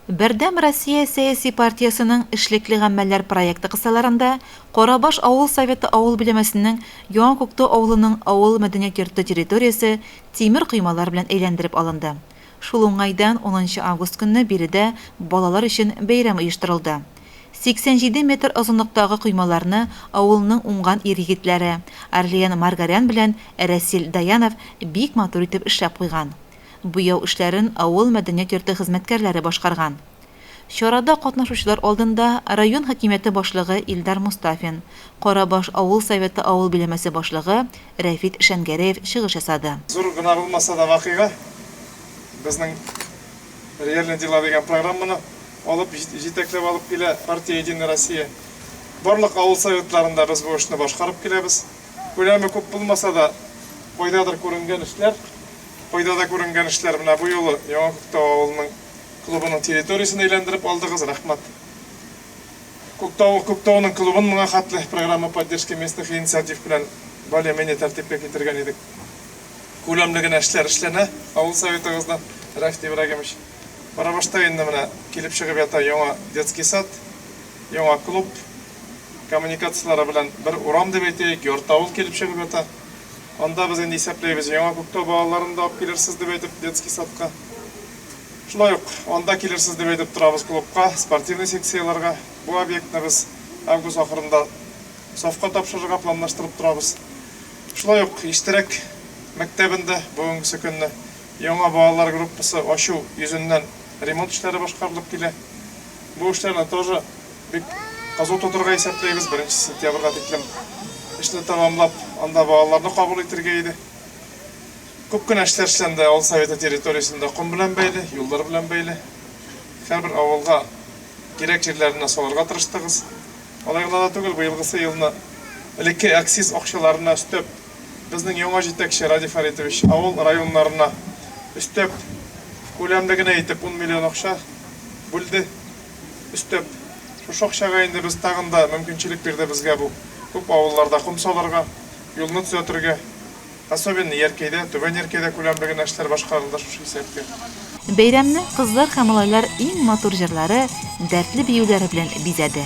Бердәм Россия сәяси партиясенең Эшлекле гамәлләр проекты кысаларында Карабаш авыл Советы авыл биләмәсенең Яңа Күктау авылының авыл мәдәният йорты территориясе тимер коймалар белән әйләндереп алынды. Шул уңайдан унынчы август көнне биредә балалар өчен бәйрәм оештырылды. 87 метр озынлыктагы коймаларны авылның уңган ир-егетләре Орлиен Маргарян белән Рәсил Даянов бик матур итеп эшләп куйган. Буяу эшләрен авыл мәдәният йорты хезмәткәрләре башкарган. Чарада катнашучылар алдында район хакимияте башлыгы Илдар Мостафин, Карабаш авыл Советы авыл биләмәсе башлыгы Рәфит Шәнгәрәев чыгыш ясады. Зур гына булмаса да вакыйга, безнең Реальные дела дигән программаны алып, җитәкләп алып килә партия Единая Россия. Барлык авыл Советларында без бу эшне башкарып киләбез. Күләме күп булмаса да, кайдадыр күренгән эшләр, кайда да күренгән эшләр. Менә бу юлы Яңа Күктау авылының клубының территориясен әйләндереп алдыгыз, рәхмәт. Күктау, Күктауның клубын моңа хәтле Программа поддержки местных инициатив белән более-менее тәртипкә китергән идек. Күләмле генә эшләр эшләнә авыл Советыгыздан, Рәфт Ибрагимович. Барабашта инде менә килеп чыгып ята яңа детский сад, яңа клуб. коммуникацияләре белән бер урам дип әйтәек, ярты авыл килеп чыгып ята. Анда без инде исәпләйбез, Яңа Күктау балаларын да алып килерсез дип әйтеп, детский садка. Шулай ук анда килерсез дип әйтеп торабыз клубка, спортивный секцияләргә. Бу объектны без август ахырында сафка тапшырырга планлаштырып торабыз. Шулай ук Иштирәк мәктәбендә бүгенгесе көнне яңа балалар группасы ачу йөзеннән ремонт эшләре башкарылып килә. Бу эшләрне тоже бик кызу тотырга исәпләйбез, беренче сентябрьгә тиклем эшне тәмамлап, анда балаларны кабул итергә иде. Күп кенә эшләр эшләнде авыл советы территориясендә ком белән бәйле, юллар белән бәйле. Һәрбер авылга кирәк җирләренә салырга тырыштыгыз. Алай гына да түгел, быелгысы елны элекке акциз акчаларына өстәп, Безнең яңа җитәкче Радий Фәритович авыл районнарына өстәп, күләмле генә итеп 10 миллион акча бүлде. Өстәп, шушы акчага инде без тагын да мөмкинчелек бирде безгә бу күп авылларда ком салырга, юлны төзәтергә. Особенно Яркәйдә, Түбән Яркәйдә күләмле генә эшләр башкарылды шушы исәпкә. Бәйрәмне кызлар һәм малайлар иң матур җырлары, дәртле биюләре белән бизәде.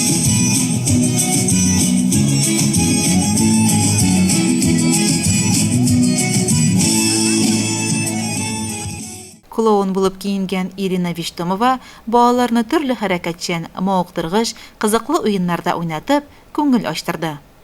Клоун булып киенгән Ирина Виштомова балаларны төрле хәрәкәтчән, мавыктыргыч, кызыклы уеннарда уйнатып, күңел ачтырды.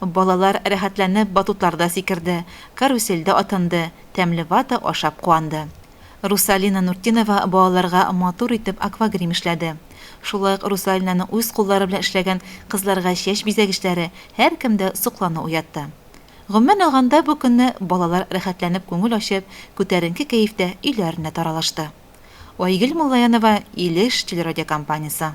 Балалар рәхәтләнеп батутларда сикерде, карусельдә атынды, тәмле вата ашап куанды. Русалина Нуртдинова балаларга матур итеп аквагрим эшләде. Шулай ук Русалинаның үз куллары белән эшләгән кызларга чәч бизәгечләре һәркемдә соклану уятты. Гомумән алганда, бу көнне балалар рәхәтләнеп күңел ачып, күтәренке кәефтә өйләренә таралышты. Айгөл Муллаянова, Илеш телерадиокомпаниясе.